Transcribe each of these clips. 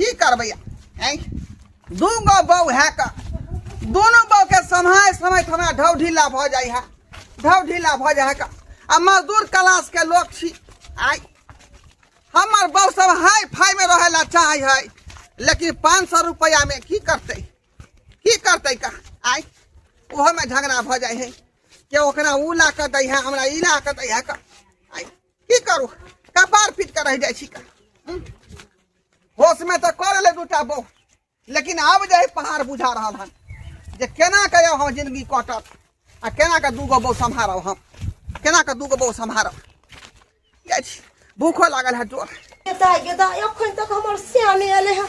की करबै आँय दू गो बौ है कऽ दुनू बौ के समय समय हमरा ढौ ढीला भऽ जाइ है ढौ ढीला भऽ जाइ है कऽ आ मजदूर क्लास के लोग छी आइ हमर बौ सब हाई फाई में रहे ला चाहे है लेकिन पाँच सौ रुपया में की करते की करते का आइ ओहो में झगड़ा भऽ जाइ है के ओकरा उ ला कऽ दै है हमरा ई ला कऽ दै है कऽ आइ की करू कपार फिट कर रह जाए छिका हम्म? होश में तो कर ले दूटा बो लेकिन आब जाए पहाड़ बुझा रहा हन जे केना के हम जिंदगी कटत आ केना के दूगो बो सम्हारब हम केना के दूगो बो सम्हारब जाए छी भूखो लागल है जोर गेदा गेदा एखन तक हमर श्यामे एले है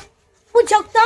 बुझौता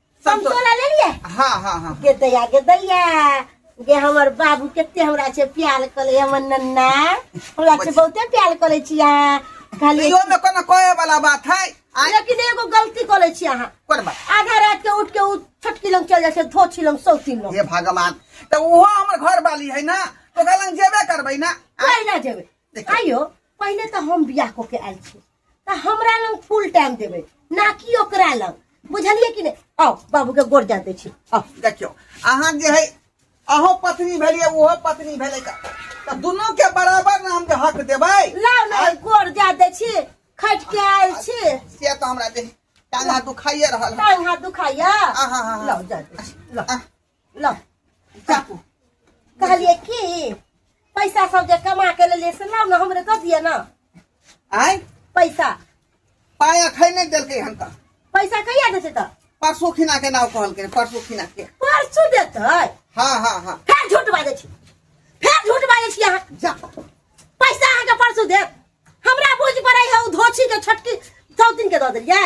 संतोला ले लिए हाँ हाँ हाँ गे दैया गे दैया गे हमर बाबू कते हमरा से प्यार कले हमर नन्ना हमरा से बहुते प्यार कले छी अहाँ खाली यो में कोनो कोए वाला बात है आ लेकिन एगो गलती कले छी अहाँ कोन बात आधा रात के उठ के उ छोटकी लंग चल जाए धो छी लंग सौती लंग हे भगवान तो वो हमर घर वाली है ना तो गलंग जेबे करबै ना आ, कोई ना जेबे देखियौ। आइयो पहिले तो हम बियाह को के आयल छी तऽ हमरा लग फुल टाइम देबै ना कि ओकरा लग बुझलियै कि नहि आउ बाबूके गोर जा दै छी आउ देखियौ अहाँ जे है अहो पत्नी भेलियै ओहो पत्नी भेलै तऽ तऽ दुनूके बराबर ने हम जे हक देबै लाउ ने गोर जा दै छी खटि के आयल छी से तऽ हमरा देह टांगा दुखाइए रहल है टांग हाथ दुखाइया आहा, आहा। लाउ जा दै छी लाउ। आह, ल चाकू कहलिए कि पैसा सब जे कमा के लेलिए से लाओ ना हमरे दे दिए ना आय पैसा पाय अखै नहीं देलकै हन त पैसा कहिया देते त परसू खिना के नाव कहलकै परसू खिना के परसू देते हां हां हां फेर झूठ बाजे छी फेर झूठ बाजे छी अहाँ जा पैसा अहाँ के परसू देत हमरा बुझ पड़ै है धोछी के छटकी सौ दिन के दऽ देलियै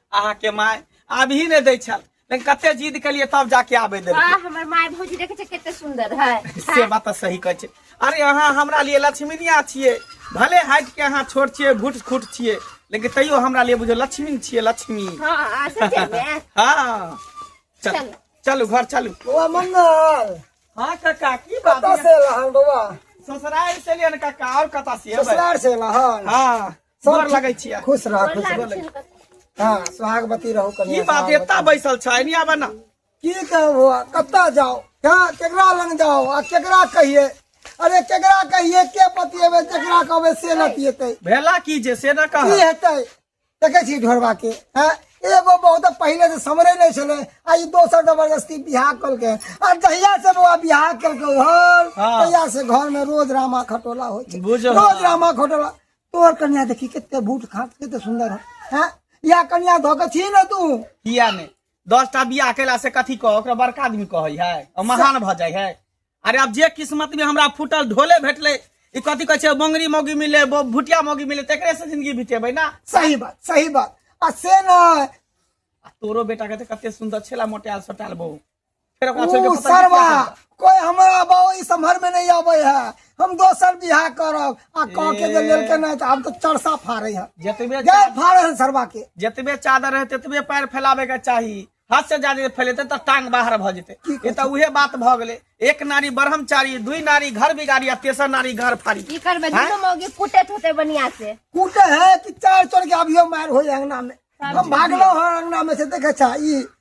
अहाँ के माय आब ही नहीं दै छल लेकिन कते जिद के लिए तब जाके आबे दे वाह हमर माय भौजी देखे छै कते सुंदर है से बात तऽ सही कहै छै अरे अहाँ हमरा लिए लक्ष्मीनिया छियै भले हाइट के अहाँ छोट छियै भूट खूट छियै लेकिन तैयो हमरा लिए बुझो लक्ष्मी छियै लक्ष्मी हां आ सच में हाँ चल चलू। चलू घर चलू बौआ मंगल हाँ काका की कतऽ बात से एलहन बौआ ससुराल से लिए ना काका और कता से एबै? ससुरार से एलहन हाँ सब गोर लगै छियै खुश रह खुश रह लागै छै ने कतौ। हाँ सुहागवती रहू ई कन्या बात सुहागवती। एता बैसल छै नहीं आबे ना की कहबो कतऽ जाओ कहाँ केकरा लग जाओ आ केकरा कहिए अरे केकरा कहिए के बतिएबे जेकरा कहबे से बतिएतै भेला की जे से ना की कह हेतै देखै छी ढोरबा के हैं एगो बहुत पहिले से समरे नहि छलै आ ई दोसर जबरदस्ती बियाह कलकै आ जहिया से बौआ बियाह कलकै घर हाँ। तहिया से घर में रोज रामा खटोला होइ छै बुझल। रोज रामा खटोला तोर कन्या देखी कते बूट खात कते सुंदर है हैं या कन्या धो के छी न तू किया ने दस टा बियाह कैला से कथी कह ओकरा बड़का आदमी कहै है आ महान भ जाइ है अरे अब जे किस्मत में हमरा फूटल ढोले भेटले ई कथी कहै छै बंगरी मौगी मिले बो- भुटिया मौगी मिले तेकरे से जिंदगी बितेबै ना सही बात सही बात आ से न आ तोरो बेटा के तऽ कते सुंदर छेला मोटायल सोटायल बहु सरवा कोई हमारा बाबू इस समर में नहीं आवे है हम दोसर बिहा करब आ कह के जे लेल के नहीं तो हम तो चरसा फाड़े है जतबे जय फाड़े है सरवा के जतबे चादर है ततबे पैर फैलावे के चाहिए हाथ से ज्यादा फैलेते तो टांग बाहर भ जेते ये तो उहे बात भ गेले एक नारी ब्रह्मचारी दुई नारी घर बिगाड़ी आ तेसर नारी घर फाड़ी की करबे दुनो मौगी कुटे होते बनिया से कुटे है कि चार चोर के अभियो मार होय अंगना में हम भागलो हर अंगना में से देखे छा ई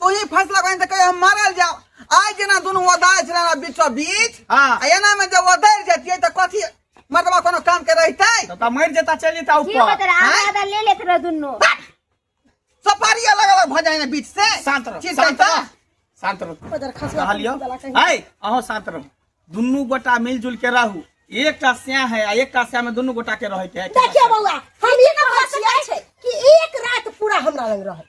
तू ई फैसला कहीं तक हम मारल जाओ आज जेना दुनू ओदार छलै ना बीचो बीच हाँ। आ एना में जब ओदार जतियै त कथी मर्दवा कोनो काम के रहतै तब तो मर जाता चल जाता की ऊपर बता रहा आधा आधा ले लेत रहो दुनू सफारी अलग अलग भ जाए ना बीच से शांत रहो चीज शांत करता रहो शांत रहो बजर खसवा कहलियो चला कहीं। आय अहो शांत रहो दुनू गोटा मिलजुल के रहू एक का स्या है आ एक का स्या में दुनू गोटा के रहे के है देखियो बौआ हम ई बात छै कि एक रात पूरा हमरा लग रहे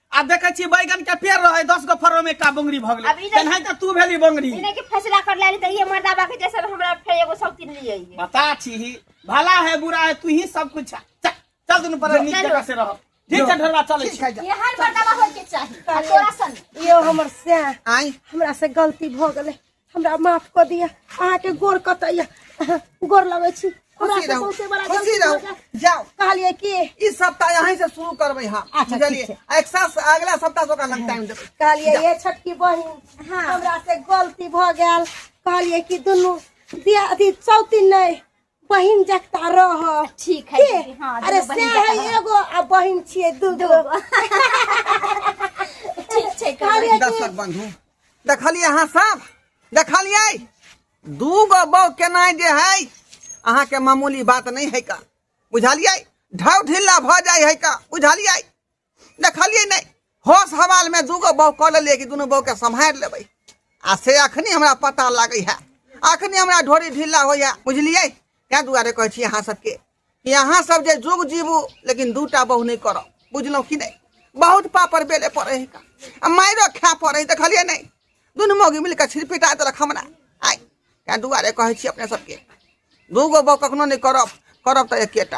आ देखे छी बैगन के पेड़ रहे दस गो फरो में का बंगरी भग अब ई गेले नहीं- तेनाहिते तू भेली बंगरी इन्हें के फैसला कर लाली तो ये मर्दा बाकी जैसे हमरा फिर एगो सब तीन लिए ये बता छी ही भला है बुरा है तू ही सब कुछ है। चल चल दुनू पर नीक चलो। जगह से रह ठीक है ढोलवा चले ठीक छी है जा। ये हर मर्दा बा होय के चाहिए आ तोरा सन यो हमर से आई हमरा से गलती भ गेले हमरा माफ कऽ दिअ अहाँके गोर कतऽ यऽ गोर लगै छी हमरा खुशी से रहू सौंसे बड़ा खुशी गलती भऽ रहू गेल। जाओ कहलियै कि ई सप्ताह यहीं से शुरू करबै हम अच्छा, ठीक बुझलियै छै। एक साल से अगला सप्ताह से ओकरा लग टाइम देबै कहलियै ये छोटकी बहिन हाँ। हमरा से गलती भऽ गेल कहलियै कि दुनू दिया अथी सौती नहि बहिन जकता रह ठीक है के? दीदी, हाँ, अरे दुनू से बहिन है जकाँ। एगो आ बहिन छिए दूगो ठीक छै कहलहुँ। अरे दर्शक बंधु देखलिए अहाँ सब देखलिए दू गो बौ केना जे है अहाँ के मामूली बात नहीं है का बुझलिए ढाउ ढिल्ला भ जाय है का बुझलिए देखलियै नहि होश हवालमे दूगो बहू कऽ लेलियै कि दुनू बहूके सम्हारि लेबै आ से अखनी हमरा पता लागै है अखनी हमरा ढोरी ढीला होइए बुझलियै ताहि दुआरे कहै छी अहाँ सबके कि अहाँ सब जे जुग जीबू लेकिन दूटा बहू नहि करब बुझलहुँ कि नहि बहुत पापड़ बेले पड़े है आ मारिओ खाय पड़े है देखलियै नहि दुनू मौगी मिल कऽ छिड़पिटा देलक हमरा आइ ताहि दुआरे कहै छी अपने सबके दूगो बहू कखनो नहि करब करब तऽ एकेटा